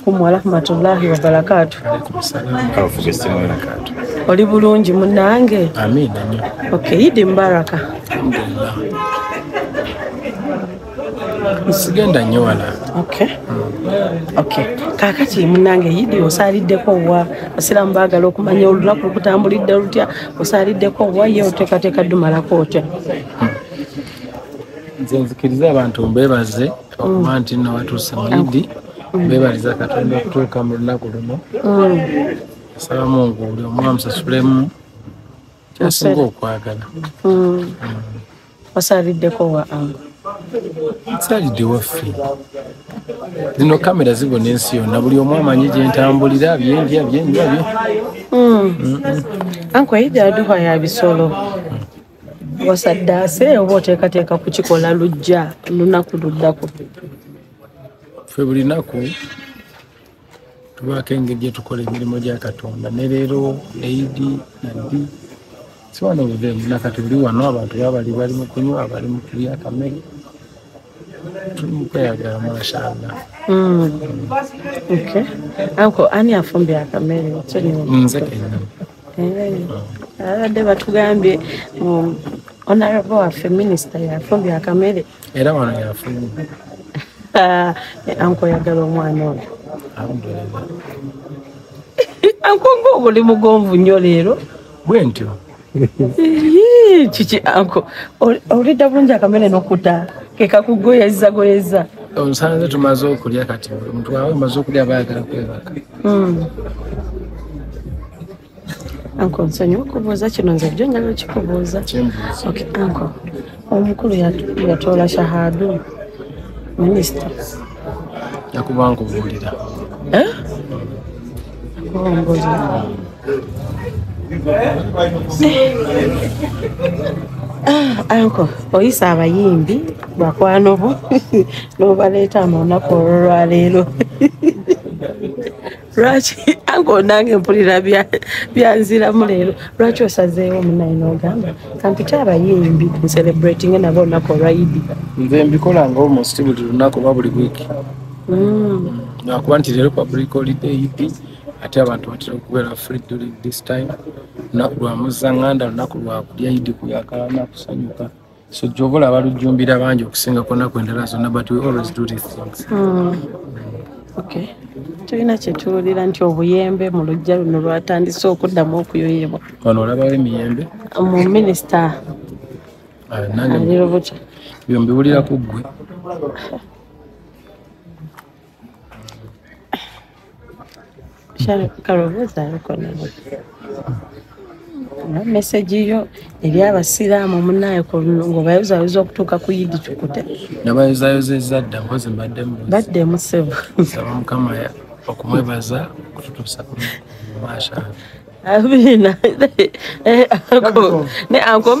alaikum warahmatullahi wabarakatu oli bulungi munange okay idi mubaraka sigenda nyo wala okay. Mm. okay. kakati munange idi osaliddeko wa basiramu bagala okumanya olunaku lukutambulidde lutya osaliddeko wa ye oteekateeka dumalako otya hmm. nze nzikiriza abantu mbebaze okuba nti nno watuuse mu idi bebaliza katonda okutuuka mu lunaku luno asaba mungu buli omu amusasulemu kyasinga okwagala osaliddeko wa angu nsalidde waffe zino kamera zibona ensi yonna buli omu amanyi gyentambulira byendya byenywa bye anku eyidaduha ya bisolo wasaddaase oba oteekateeka kukikola lujja lunaku luddako fe buli naku tubaako engeri gyetukola emirimu gya katonda ne leero eidi nabbi siwana obudeemu nakati buli wano abantu babali bali mu kunywa abali mu kulya kamere tukweyagala mashallah hmm. okay anko ani afumbye akamere nze kenyini abadde batugambye um, onarabo waffe minisita yafubye akamere era wano yafuluma ah, ankoyagala omwana oyo ankonga obuli mugonvu nnyo leero bwe ntyo kiki anko olidda bulungi akamere nokuta kekakugoyeza goyeza onsanze tumaze okulya kati omuntu wawe omaze okulya bayagala kwebaka hmm. anko nsonyi okubuuza kino nze bjo njala okikubuuza anko omukulu yatoola shahadu minisita yakuba nkubuulira eh? Ah, anko oyisa abayimbi bakwano bo nobaleeta mu lunaku olwolwaleero lwaki anko nange mpulira byanziramu leero lwaki osazeewo munaye nogamba kampite abayimbi ncelebratinge nabo olunaku olwaidi nze mbikola ngaomusiti buli lunaku oba buli wiiki lwakuba mm. nti leero public holiday ep ate abantu batera okubeera free during this time lunaku lwa muzzanganda lunaku lwakulya idi kuyakalana kusanyuka so gyoba olaba lujjumbira bangi okusinga ku nnaku endala zonna but we always do these things mm. okay tulina kyetuwulira nti obuyembe mu lujja luno lwatandise okuddamu okuyoyebwa wano olabawo emiyembe mu minisita ah, alirubuca byombiwulira ku ggwe kalowooza alukonawo mesegi yo eri abasiraamu munaye ngaobayozayoza okutuuka ku yidi tukute nabayozayozeza dda mpozi mbaddemu baddemu sebo saba mukama okumwebaza okututuusa kumasha abiina ne ankombe